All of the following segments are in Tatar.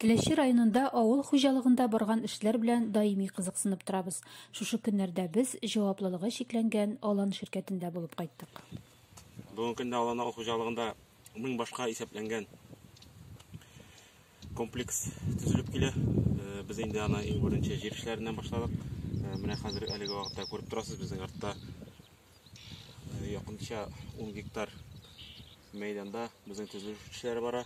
Теләче районында авыл хуҗалыгында барган эшләр белән даими кызыксынып торабыз. Шушы көннәрдә без җаваплылыгы чикләнгән Алан ширкәтендә булып кайттык. Бүгенге көндә Алан авыл хуҗалыгында мең башка исәпләнгән комплекс төзелеп килә. Э, без инде аны иң беренче җир эшләреннән башладык. Э, менә хәзер әлеге вакытта күреп торасыз, безнең артта Э, якынча 10 гектар мәйданда безнең төзелеш эшләре бара.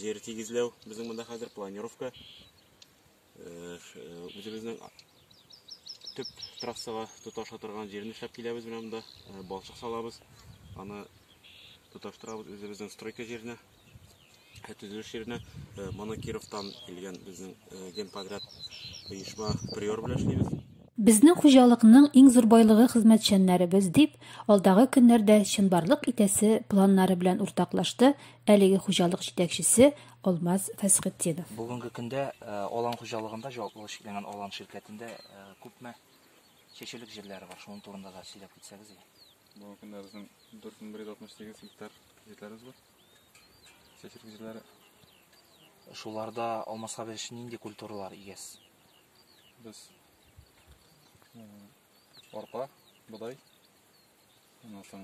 Җир тигезләү безнең монда хәзер планировка. Э, э, үзебезнең төп трассага тоташа торган җирне эшләп киләбез менә монда. Балчык салабыз. Аны тоташтырабыз үзебезнең стройка җиренә. Ә төзелеш җиренә э, моны Кировтан килгән безнең э, генподряд оешма приор белән эшлибез. Безнең хуҗалыкның иң зур байлыгы хезмәтчәннәребез, дип, алдагы көннәрдә чынбарлык итәсе планнары белән уртаклашты әлеге хуҗалык җитәкчесе Алмаз Фәсхетдинов. Бүгенге көндә э, Алан хуҗалыгында җаваплылык чикләнгән Алан ширкәтендә күпме чәчүлек җирләре бар? Шуның турында да сөйләп китсәгез. Бүгенге көндә безнең 4168 гектар җирләребез бар. Сәфир гүзәлләре. Шуларда алмаска береш нинди культуралар игәс? Без арпа, бодай, аннан соң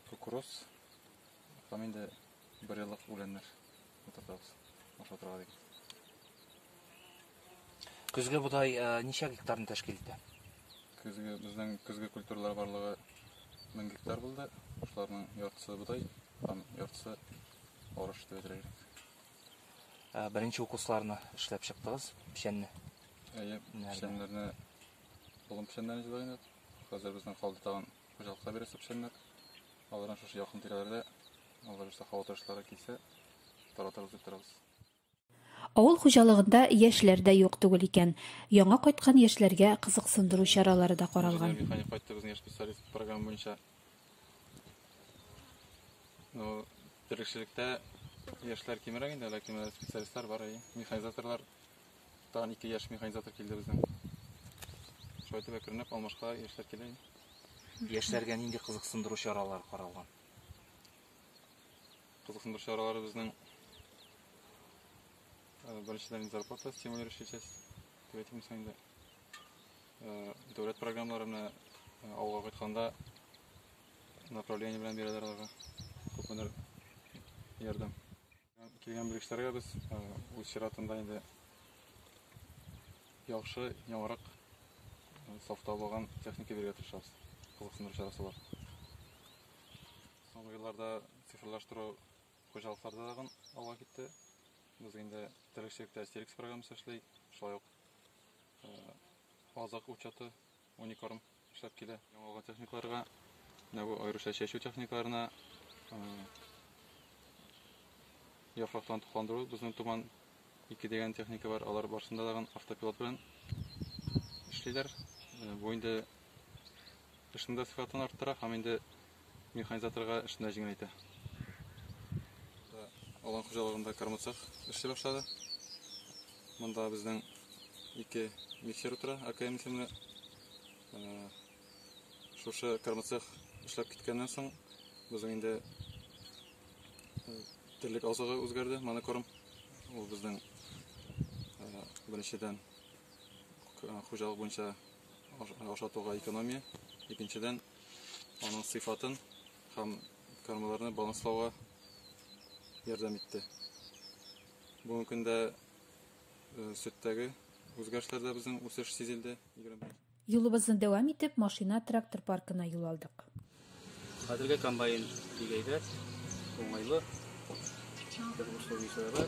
кукуруз, һәм инде бер еллык үләннәр. Көзге бодай э, ничә гектарны тәшкил итә? Көзге безнең көзге культуралар барлыгы 1000 гектар булды. Шуларның яртысы бодай, һәм яртысы арыш дип әйтергә Ә, э, Беренче укусларны эшләп чыктыгыз, печәнне. Әйе, печәннәрне болын печәннәрен җыйган идек. Хәзер безнең калды тагын хуҗалыкта бирәсе печәннәр. Алардан шушы якын тирәләрдә Алар өчен һава торышлары килсә, таратырбыз дип торабыз. Авыл хуҗалыгында яшьләр дә юк түгел икән. Яңа кайткан яшьләргә кызыксындыру чаралары да каралган. Инженер механик кайтты безнең яшь специалист программа буенча. Ну, терлекчелектә яшьләр кимерәк инде, ләкин менә специалистлар бар, әйе. Механизаторлар, тагын ике яшь механизатор килде безнең. Шулай итеп әкренләп алмашка яшьләр килә. Яшьләргә нинди кызыксындыру чаралары каралган? Кызыксындыру чаралары безнең э, беренчедән зарплата стимулирующая часть дип әйтим соң инде. Э, дәүләт программалары менә э, авылга кайтканда направление белән бирәләр аларга. Күпмедер ярдәм. Килгән белгечләргә без үз чиратында инде яхшы, яңарак сафта булган техника бирергә тырышабыз. Кызыксындыру чарасы бар. Соңгы елларда цифрлаштыру хуҗалыкларда да алга китте. Без инде терлекчелектә Астерикс программасы эшли, шулай ук азык учеты Уникорм эшләп килә. Яңалган техникаларга, менә бу аеруча чәчү техникаларына, яфрактан тукландыру, безнең туман ике дигән техника бар, алар барысында да автопилот белән эшлиләр. Бу инде эшнең дә сыйфатын арттыра һәм инде Механизаторга эшне җиңеләйтә. Алан хуҗалыгында кармацак эшли башлады. Монда безнең ике миксер утыра, АКМ исемле. Шушы кармацак эшләп киткәннән соң, безнең инде терлек азыгы үзгәрде, монокорм. Ул безнең беренчедән хуҗалык буенча ашатуга экономия, икенчедән аның сыйфатын һәм кармаларны баланслауга ярдәм итте. Бүгенге көндә э, сөттәге үзгәрешләрдә безнең үсеш сизелде. Юлыбызны дәвам итеп, машина трактор паркына юл алдык. Хәзерге комбайн бик әйбәт, уңайлы. Бер бушлык ишәре бар.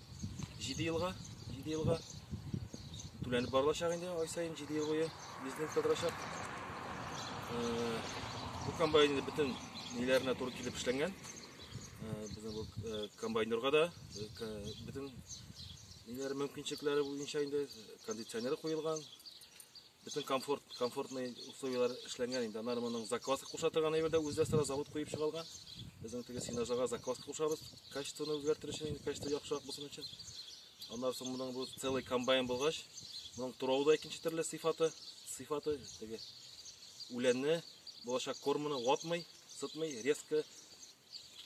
7 елга, 7 елга түләнеп барылачак инде ай саен 7 ел буе лизинг тотылачак. Бу комбайн инде бөтен ниләренә туры килеп эшләнгән. Безнең бу комбайнерга да бөтен ниләр мөмкинчекләре буенча инде кондиционер куелган. Бөтен комфорт, комфортный условияләр эшләнгән инде. Аннары моның закваска куша торган әйбердә үз ясара завод куеп чыгалган. Безнең теге сенажага закваска кушабыз. Качествоны үзгәртер өчен, инде качество яхшырак булсын өчен. Аннары соң моның бу целый комбайн булгач, моның турау да икенче төрле сыйфаты, сыйфаты теге үләнне, булачак корманы ватмый, сытмый, резко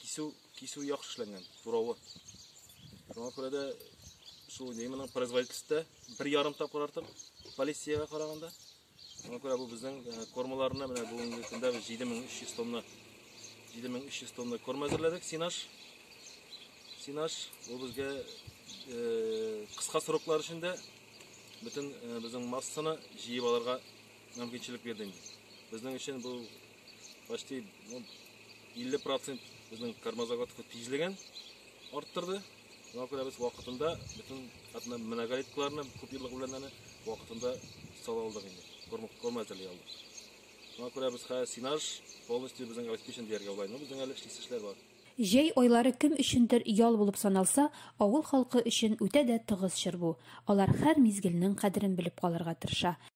кисү Кисүе яхшы эшләнгән, туравы. Шуңа күрә дә шул инде именно производительство бер ярым тапкыр артык Палестиягә караганда. Шуңа күрә бу безнең э, кормаларына менә бүгенге көндә без 7300 тонна 7300 тонна корм әзерләдек, синаш. Синаш бу безгә э, кыска сроклар эчендә бөтен э, безнең массаны җыеп алырга мөмкинчелек бирде инде. Безнең өчен бу Почти 50 процент безнең кармазагатка тизлеген арттырды. Шуңа күрә без вакытында бөтен хатны моногориткаларны, күп еллык үләннәрне вакытында сала алдык инде. Корма, корма әзерли алдык. Шуңа күрә без хәзер синаж полностью безнең обеспечен дияргә була. Ну, безнең әле эшлисе эшләр бар. Җәй айлары кем өчендер ял булып саналса, авыл халкы өчен үтә дә тыгыз чор бу. Алар һәр мизгелнең кадерен белеп калырга тырыша.